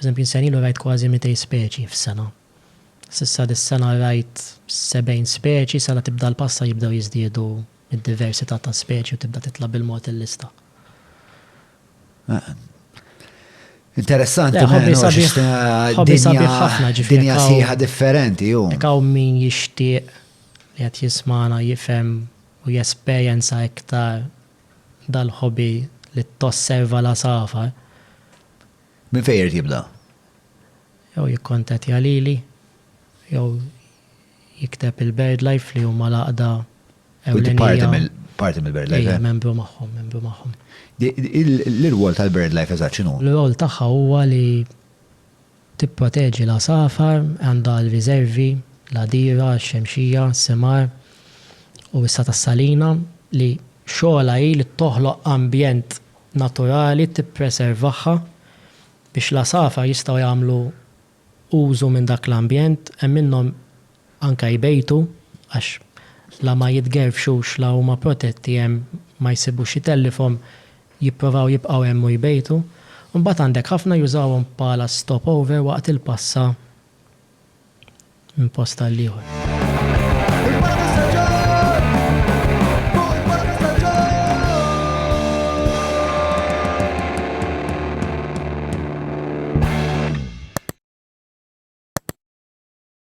Pereżempju, sena ilu rajt kważi 200 speċi f'sena. S'issa dis-sena rajt 70 speċi, sala tibda l-passa jibdew jiżdiedu d-diversità ta' speċi u tibda titla' bil-mod il-lista. Interessanti, ħobbi sabiħ. Ħobbi sabiħ ħafna ġifieri. Dinja sħiħa differenti, hu. Jekk hawn min jixtieq li qed jismagħna jifhem u jesperjenza iktar dal-hobby li tosserva l-għasafar. Minn fejn irid jibda? Jew jikkontattja lili, jew jikteb il-BirdLife li huma l-għaqda ewlenija. U inti parti mill-BirdLife? Iva, membru magħhom, membru magħhom. L-irwol tal-BirdLife eżatt x'inhu? L-irwol tagħha huwa li Tipproteġi l-għasafar, għandha l-riżervi, l-għadira, x-xemxija, s-simar u issa tas-salina li xogħolha hi li toħloq ambjent naturali tippreservaha biex l-għasafar jistgħu jagħmlu użu minn dak l-ambjent, hemm minnhom anke jbejtu għax la ma jitgerfxux la huma protetti hemm ma jsibux itellifhom jipprovaw jibqgħu hemm u jbejtu. Imbagħad għandek ħafna jużawhom bħala stop over waqt il-passa minn post għal ieħor.